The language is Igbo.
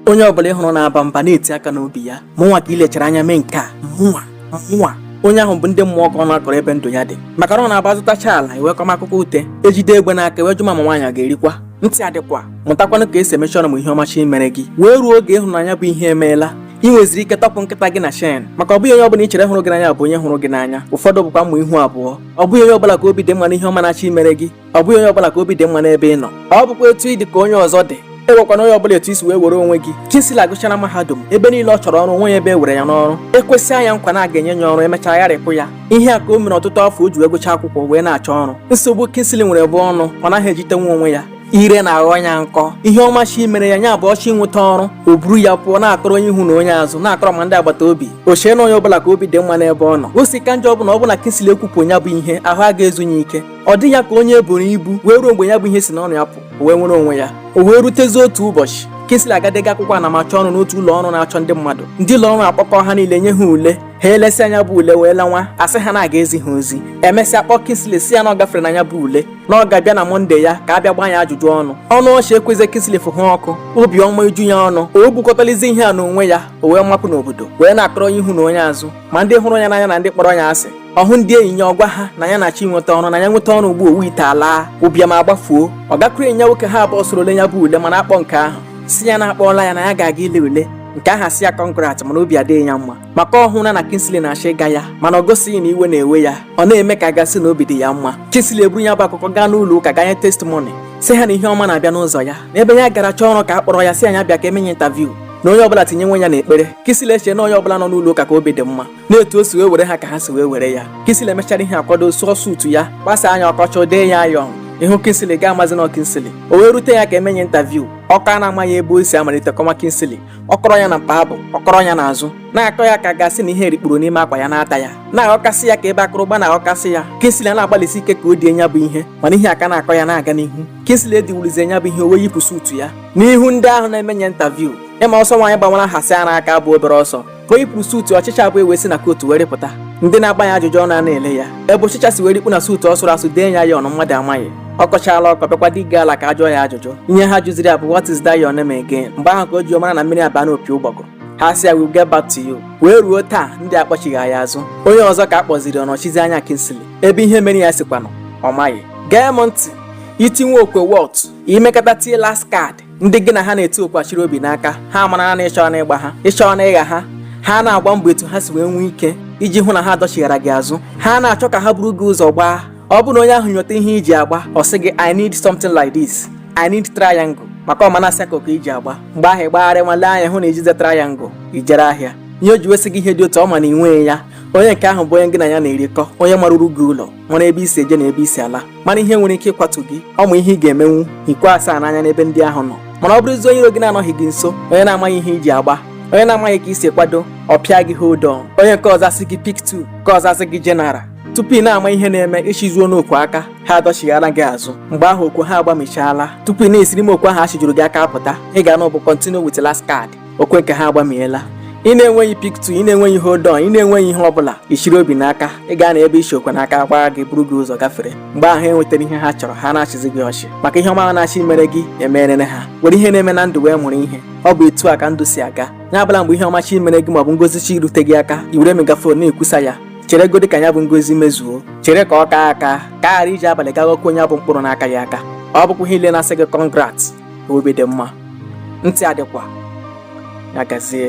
onye ọbụla ịhụrụ na-aba mba na-eti aka n'obi ya mụnwa ka ilechara anya mee nke a mụnwa mụnwa onye ahụ bụ ndị mmụọ ka ọ na-akọrọ ebe ndụ ya dị maka na ọ na-abụ azụtachaa ala e wee kọma akụkọ ute ejide egbe n'aka e wee jụma ma nwaanyị a ga-erikwa ntị adịkwa mụtakwanụ ka esi emechi ọnụ ma ihe ọma chọọ imere gị wee ruo oge ịhụrụ na nya bụ ihe emeela ị nweziri ike tọpụ nkịta gị na chain maka ọ bụghị onye ọbụla i chere hụrụ gị n'anya bụ onye hụrụ gị n'anya ụfọdụ bụkwa mma ihu abụọ ọ bụghị onye ọbụla ka obi dị mma n'ihe ọma na-achọ imere gị ọ bụghị onye ọbụla ka obi dị mma n'ebe ị nọ ọ bụkwa etu ị dị ka onye ọzọ dị ewekwana onye ọbụla etu i si wee were onwe gị Kingsley gụchara mahadum ebe niile ọ chọrọ ọrụ o nweghị ebe e were ya n'ọrụ ekwesịa nya nkwa na aga enye ya ọrụ emechaa gharịpụ ya ihe a ka o mere ọtụtụ afọ o ji wee gụcha akwụkwọ wee na-achọ ọrụ nsogbu Kingsley nwere bụ ọnụ ọ naghị ejitenwu onwe ya ire na-aghọ ya nkọ ihe ọma chọọ imere ya nya bụ ọ chọọ inweta ọrụ o buru ya pụọ na-akọrọ onye ihu na onye azụ na-akọrọ ma ndị agbata obi o chee na onye ọbụla ka obi dị mma n'ebe ọ nọ o si ka njọ bụ na ọ bụ na Kingsley ekwupụ ya bụ ihe ahụ aga ezu ya ike ọ dị ya ka onye eboro ibu wee ruo mgbe ya bụ ihe si n'ọnụ ya pụ o wee nwere onwe ya o wee rutezie otu ụbọchị Kingsley aga dega akwụkwọ anamachọ ọrụ n'otu ụlọ ọrụ na-achọ ndị mmadụ ndị ụlọ ọrụ akpọkọ ha niile nye ha ule ha elesịa nya bụ ule wee lanwa a sị ha na a ga-ezi ha ozi emesịa kpọọ Kingsley sị ya na ọ gafere na ya bụ ule na ọ ga-abịa na mọnde ya ka a bịa gbaa ya ajụjụ ọnụ ọnụ ọchị ekwezi Kingsley fụ ha ọkụ obi ọma eju ya ọnụ o bukọtalizi ihe a n'onwe ya o wee mapụ n'obodo wee na-akọrọ onye ihu na onye azụ ma ndị hụrụ ya n'anya na ndị kpọrọ ya asị ọ hụ ndị enyi ya ọ gwa ha na ya na-achọ inweta ọrụ na ya nweta ọrụ ugbu a owu ite alaa ụbịam agbafuo ọ gakwuru enyi ya nwoke ha abụọ soro lee ya bụ ule mana akpọ nke ahụ si ya na-akpọọla ya na ya ga-aga ile ule nke ahụ sị ya congrat mana obi adịghị ya mma maka ọ hụla na Kingsley na-achọ ịga ya mana ọ gosighị na iwe na-ewe ya ọ na-eme ka a ga-asị na obi dị ya mma Kingsley eburu ya bụ akụkọ gaa n'ụlọ ụka gaa nye testimony sị ha na ihe ọma na-abịa n'ụzọ ya n'ebe ya gara chọọ ọrụ ka a kpọrọ ya sị nya bịa ka e mee nya interview na onye ọbụla tinyewe ya n'ekpere Kingsley eche na onye ọbụla nọ n'ụlọ ụka ka obi dị mma na etu o si wee were ha ka ha si wee were ya Kingsley emechara ihe a kwado sụọ suutu ya gbasaa nya ọ kọchaa dee ya iron ị hụ Kingsley ị ga amazi na Kingsley o wee rute ya ka e mee nya interview ọkọ a na-amaghị ebe o si amalite kọma Kingsley ọ kọrọ ya na mkpa abụ ọ kọrọ ya n'azụ na-akọ ya ka a ga-asị na ihe rikpuru n'ime akwa ya na-ata ya na-aghọkasị ya ka ebe akụrụgba na-aghọkasị ya Kingsley ana-agbalịsi ike ka o die nya bụ ihe mana ihe a ka na-akọ ya na-aga n'ihu Kingsley ediwulizi nya bụ ihe o wee yipụ suutu ya n'ihu ndị ahụ na-eme nya interview ị ma ọsọ nwaanyị gbawara hasị ara aka abụ obere ọsọ ka o yipụrụ suutu ọchịcha abụọ ewee si na kootu were pụta ndị na-agba ya ajụjụ ọnụ a na-ele ya ebe ọchịcha si were ikpu na suutu ọ sụrụ asụ dee ya iron mmadụ amaghị ọ kọchaala ọkọ bịakwa dị gị ala ka ajụọ ya ajụjụ ihe ha jụziri ya bụ what is that your name again mgbe ahụ ka o ji mara na mmiri abaa n'opi ụgbọgụ ha sị ya we'll get back to you wee ruo taa ndị a akpọchighị ya azụ onye ọzọ ka a kpọziri ọ nọchizie anya Kingsley ebe ihe mere ya sikwanụ ọ maghị gee m ntị itinwe okwe wọt i mekata tie last card ndị gị na ha na-eti okwe achiri obi n'aka ha amara na ị chọọna ịgba ha ị chọọna ịgha ha ha na-agba mbọ etu ha si wee nwee ike iji hụ na ha dọchighara gị azụ ha na-achọ ka ha buru gị ụzọ gbaa ọ bụrụ na onye ahụ nyota ihe i ji agba ọ sị gị i need something like this i need triangle maka ọ ma na circle ka i ji agba mgbe ahụ ịgbagharị nwa lee anya hụ na ijize triangle i jere ahịa ihe o ji wesị gị ihe dị otu ọ ma na i nweghị ya onye nke ahụ bụ onye gị na ya na-erikọ onye maruru gị ụlọ mara ebe i si eje na ebe i si ala mara ihe nwere ike ịkwatu gị ọ ma ihe ị ga-emenwu ikwe asaa n'anya n'ebe ndị ahụ nọ mana ọ bụrụzie onye iro gị na-anọghị gị nso onye na-amaghị ihe i ji agba onye na-amaghị ka i si kwado ọ pịa gị hold on onye nke ọzọ asị gị pick 2 nke ọzọ asị gị general tupu ị na-ama ihe na-eme i chizuona okwe aka ha adọchighaala gị azụ mgbe ahụ okwe ha agbamichaala tupu ị na-esiri ime okwe ahụ chijuru gị aka apụta ị ga-anụ bụ continue with last card okwe nke ha agbamiela ị na-enweghị pick 2 ị na-enweghị hold on ị na-enweghị ihe ọbụla i chiri obi n'aka ị ka nọ ebe i chi okwe n'aka ha agbara gị buru gị ụzọ gafere mgbe ahụ ha enwetara ihe ha chọrọ ha na-achịzi gị ọchị maka ihe ọma ahụ na chi mere gị emerere ha were ihe na-eme na ndụ wee mụrụ ihe ọ bụ etu a ka ndụ si aga ya abụla mgbe ihe ọma chi mere gị maọbụ ngozi chi rute gị aka i were megaphone na-ekwusa ya cheregodi ka ya bụ ngozi mezuo chere ka ọ kaa aka ka ị ghara iji abalị ga aghọkwa ya bụ mkpụrụ na-akaghị aka ọ bụkwaghị ha niile na-asị gị congrat obi dị mma ntị ọ dịkwa ya gazie